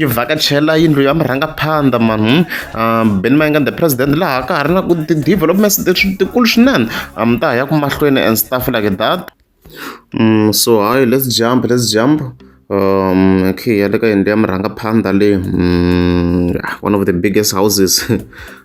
yi vhakachela yindlu ya murhangaphandha mani hmm? ah, ben mayengani the president laha ka ha ri na ku ti-developments tikulu swinene ah, mi ta ha ya ku mahlweni and stuff like that mm, so hi let's jump let's jump um okay ya le ka yindlu ya murhangaphandha leyi mm, one of the biggest houses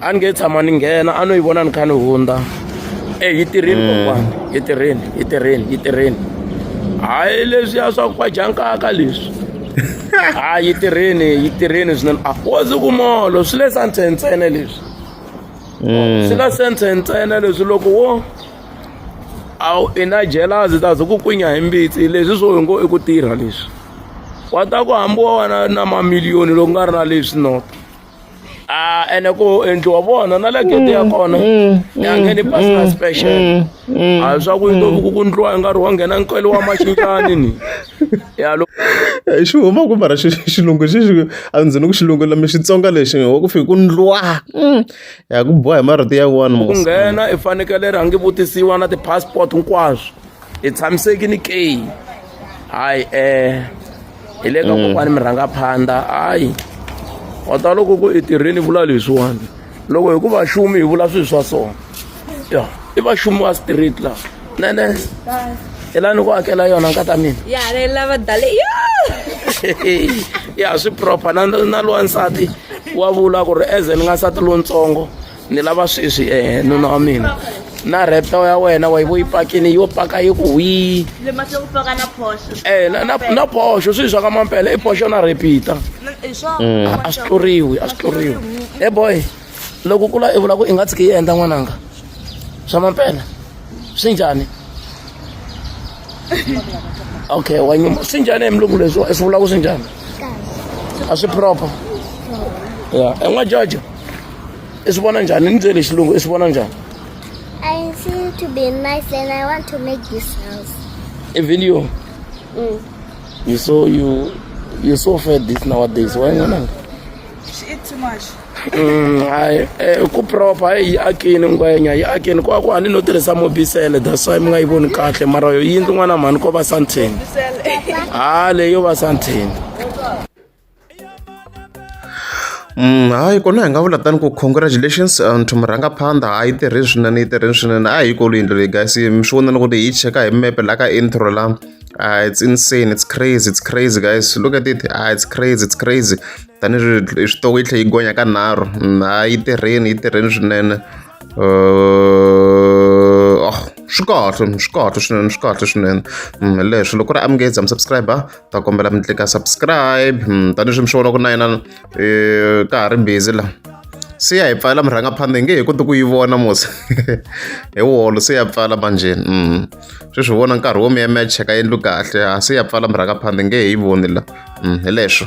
a ni nge tshama ni nghena a no yi vona ni kha ni hundza e yi tirheni mm. kokwana yi tirheni yi tirheni yi tirheni hayi leswiya swa ku kwajankaka leswi a yi tirheni yi tirheni swinene a wozi ku molo swi le santhe ntsena leswi mm. swi ka senthe ntsena leswi loko wo a i na jelazi ta ze ku kwinya hi mbitsi leswi swo hi ngo i ku tirha leswi wa ta ku hambiwa wena na mamiliyoni loko nga ri na leswi nota Ah, ene ku endliwa vona na le gede ya kona ya ngheni personal special a hi swa ku yi ku ku ndliwa hi nkarhi wa nghena nkwelo wa maxinjani ni ya lo Eh, xi huma ku mara xi- xilungu xi xi- a ndzi ni ku xilungu lami xitsonga lexi wa ku fika ku ndlwa Mm. ya ku boha hi marito ya one ku mos nghena i fanekele rhangi vutisiwa na ti-passport hinkwaswo hi tshamisekini ke hayi um hi le ka mm. kokwani mi rhanga phanda hayi wa ta loko ku i tirheni vula leswiwani loko hi ku vaxumi hi vula swilo swa sona ya i vaxumi wa street la nene hi la ni ku hakela yona nkata mina ya swi proper na na lowa nsati wa vula ku ri eze ni nga nsati lontsongo ni lava sweswi eh nuna wa mina na reto ya wena wa yi vo yi pakini yo paka yi ku hwii eh na na na posho swi swa ka mampela i posho na repeat a swi tluriwi a swi tluriwi e boy loko kula i vula ku i nga tshiki yi endla n'wananga swa mampela swi njhani okay wa nyuma swi njhani hi mulungu leswi i swi vula ku swi njhani a swi proper ya en'wa jojo i swi vona njhani ni byele xilungu i swi vona njhani I seem to be nice and I want to make this house. e video Mm. you so you you so fed this nowadays why ngwana She eat too much. Mm, hayi eh, ku proper hayi yi akini ngwenya yi akini kwa ku a ni no tirhisa mobisele that's why mi nga yi voni kahle mara yo yindlu n'wana mhani ko va santheni Sell. ha leyo va santheni Hayi kona hi nga vula tano ku congratulations to murhangaphandha a yi tirhe swinene yi tirhe swinene a hi yi kulu yindlu leyi guys mi swi vona na ku ri hi cheka hi mepe la ka intro la it's insane it's crazy it's crazy guys look at it a it's crazy it's crazy tanihileswi hi switoko yi tlhe yi gonya ka nharhu ha yi tirheni yi tirheni swinene swi kahle swi kahle swinene swi kahle swinene hi leswo loko ku ri a mi nge za mi subscribe. ta kombela mi tlika subscribe hmm, tanihileswi mi swi vona ku na yena eh, ka ha ri busy la se ya hi pfala mi rhanga phanda hi nge hi koti ku yi vona mos hi wolo se ya pfala manjeni hmm. sweswi vona nkarhi wo mi ya mi ya cheka yendlu kahle ha se ya pfala mi rhanga phanda hi nge hi yi voni la hmm, hi leswo